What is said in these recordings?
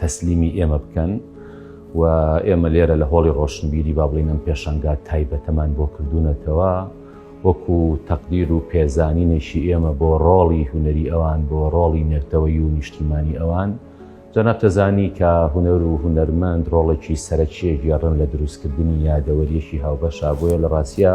تەسلیمی ئێمە بکەن و ئێمە لێرە لە هۆڵی ڕۆشنبیری با بڵین ئەم پێشەنگا تایبەتەمان بۆ کردوونەتەوە وەکو تەقدیر و پێزانینێکی ئێمە بۆ ڕۆڵی هوەری ئەوان بۆ ڕۆڵی نێرتەوەی و نیشتیمانی ئەوان جەناب تەزانی کە هوەر و هوەرمەند ڕۆڵێکی سەرەکیە گێڕن لە دروستکردنی یادەوەریەکی هاوبەشا بۆیە لە ڕاستە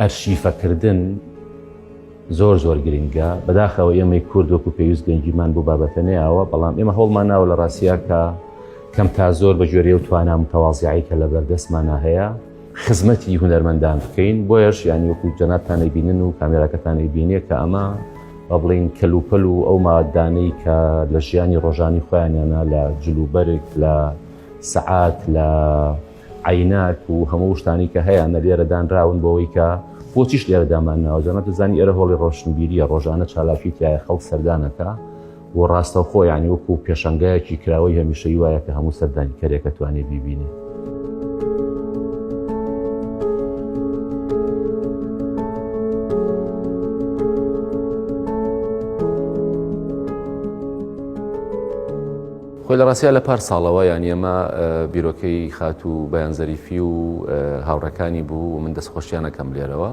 ئەرشیفەکردن زۆر زۆر گرنگە بەداخەوە ئێمەی کورد وەکو پێویست گەنجیمان بۆ بابەتە نەیەوە بەڵام ئێمە هەوڵمان ناوە لە ڕاستیاکە کەم تا زۆر بە جۆرێ و توانا متەوازیایی کە لە بەردەستمانە هەیە خزمەتی هوەرمەندان بکەین بۆیش ینی وەکو جەناتانەی بینن و کامێراکەتانەی بینیە کە ئەمە با بڵین کەلوپەل و ئەو مادانەی کە لە ژیانی ڕۆژانی خۆیانیانە لە جلوبەرێک لە سەعات لە عەیناک و هەموو شتانی کە هەیانە لێرە دانراون بۆەوەی کە بۆچیش لێرە دامان ناوە جەنە دەزانی ئێرە هۆڵی ڕۆشنبیریە ڕۆژانە چالاکی تایە خەڵک سەردانەکە و ڕاستەوخۆ یانی وەکو و پێشنگایەکی کراوەی هەمیشەی وایە کە هەموو سەردانی کەرێکە توانێ بیبینێ. خۆی لە ڕاستیا لە پار ساڵەوە یانە مە بیرۆکەی خاتوو بەیان زەریفی و هاوڕەکانی بوو و من دەستخۆشیانەکەم لێرەوە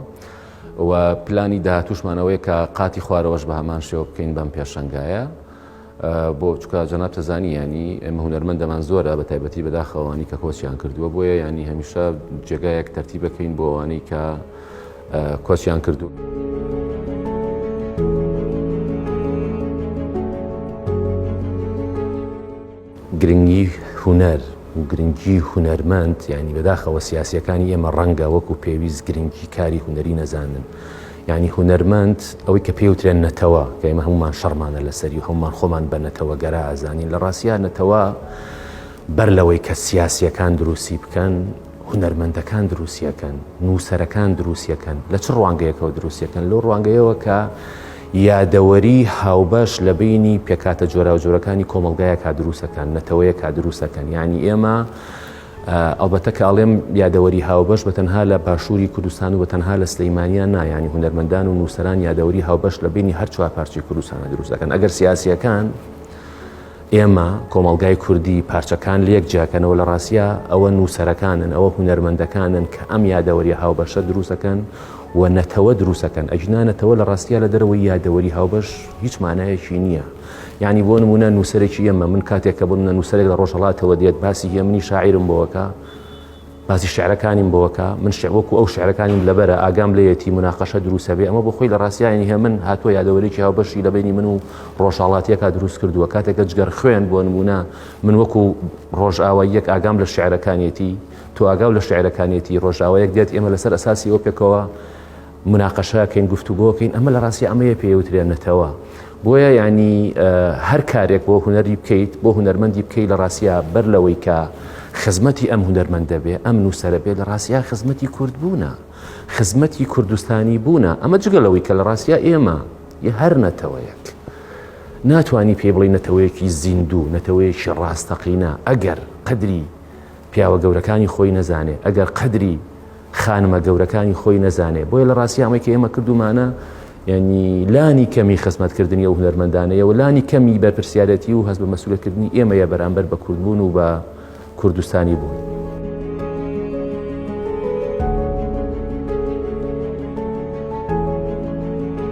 و پلانی داهاتوشمانەوەی کە قاتی خوارەوەش بە هەمان شێوە بکەین بەم پێشنگایە بۆ چکە جەناب تەزانی ینی ئێمە هوەرمەندەمان زۆرە بە تایبەتی بەداخەوانی کە کۆچیان کردووە بۆیە ینی هەمیشە جێگایەک تەرتی بکەین بۆ ئەوانەی کە کۆچیان کردوون. گرنگی هونەر و گرنگی هونەرمەند ینی بەداخەوە سیاسەکانی ئێمە ڕەنگە وەکو پێویست گرنگی کاری هونەری نەزانن ینی هونەرمەند ئەوەی کە پێوترێن نەتەوە کە ئمە هەمومان شەرمانە لەسەری و هەمومان خۆمان بە نەتەوە گەرا ئازانین لە ڕاستە نەتەوە بەر لەوەی کە سیاسیەکان دروستی بکەن هونەرمەندەکان دروستیەکەن، نووسەرەکان دروستیەکەن، لە چ ڕوانگەیەکەوە دروستیەکەن؟ لەو ڕوانگەیەوە کە یادەوەری هاوبەش لە بینی پێکاتە جۆراوجۆرەکانی کۆمەلگایەکا دروستەکەن، نەتەوەیەکا دروستەکەن، یانی ئێمە ئەڵبەتە کە ئەڵێم یادەوەری هاوبەش بە تەنها لە باشووری کوردستان و بە تەنها لە سلەیمانیان نا، یانی هونەرمەندان و نووسەران یادەوەری هاوبەش لە بینی هەر چوار پارچەی کوردستانە دروستەکەن، ئەگەر سیاسیەکان، ئێمە، کۆمەڵگای کوردی، پارچەکان لێک جیاکەنەوە، لە ڕاستیا ئەوە نووسەرەکانن، ئەوە هونەرمەندەکانن کە ئەم یادەوەریە هاوبەشە دروستەکەن و نەتەوە دروستەکەن، ئەگینا نەتەوە لە ڕاستیا لە دەرەوەی یادەوەری هاوبەش هیچ مانایەکی نییە. یانی بۆ نموونە نووسەرێکی ئێمە، من کاتێک کە بۆ نموونە نووسەرێک لە ڕۆژهەڵاتەوە دێت باسی هێمنی شاعیرم بۆ ئەکا، باسی شعرەکانیم بۆ کە من شعر وەکو ئەو شعرەکانیم لەبەرە ئاگام لەیەتی مناقەشە دروسە بێ ئەمە بۆ خۆی لە ڕاستیانی هێ من هاتووە یادەوەرێکی هاو بەشی لە بینی من و ڕۆژاڵاتیەکە دروست کردووە کاتێکە جگەر خوێن بۆ نمونە من وەکو ڕۆژئاوا یەک ئاگام لە شعرەکانیەتی تو ئاگاو لە شعرەکانیەتی ڕۆژاوایەک دێت ئێمە لەسەر ئەساسی ئەو پێکەوە مناقەشە کەین گفتوگۆکەین ئەمە لە ڕاستی ئەمەیە پێوترێن نەتەوە بۆیە ینی هەر کارێک بۆ هوەری بکەیت بۆ هوەرمەندی بکەیت لە ڕاستە بەر لەوەی کە خزمەتی ئەم هوەرمەند دەبێ ئەم نووسرە بێت لە ڕاستە خزمەتی کورد بوونە خزمەتی کوردستانی بوونە ئەمە جگە لەوەی کە لە ڕاستە ئێمە یە هەر نەتەوەیەک ناتانی پێی بڵی نەتەوەیەکی زیندوو نەتەوەیەکی ڕاستەقینە ئەگەر قدری پیاوە گەورەکانی خۆی نەزانێ ئەگەر قەدری خانمە گەورەکانی خۆی نەزانێ بۆیە لە ڕاستی ئەمەی کە ئێمە کردومانە یعنی لانی کەمی خزمەتکردنی ئەو هونەرمەندانەیە و لانی کەمی بەرپرسیارەتی و هەست بە مەسولەکردنی ئێمەیە بەرامبەر بە کوردبوون و بە کوردستانی بوون.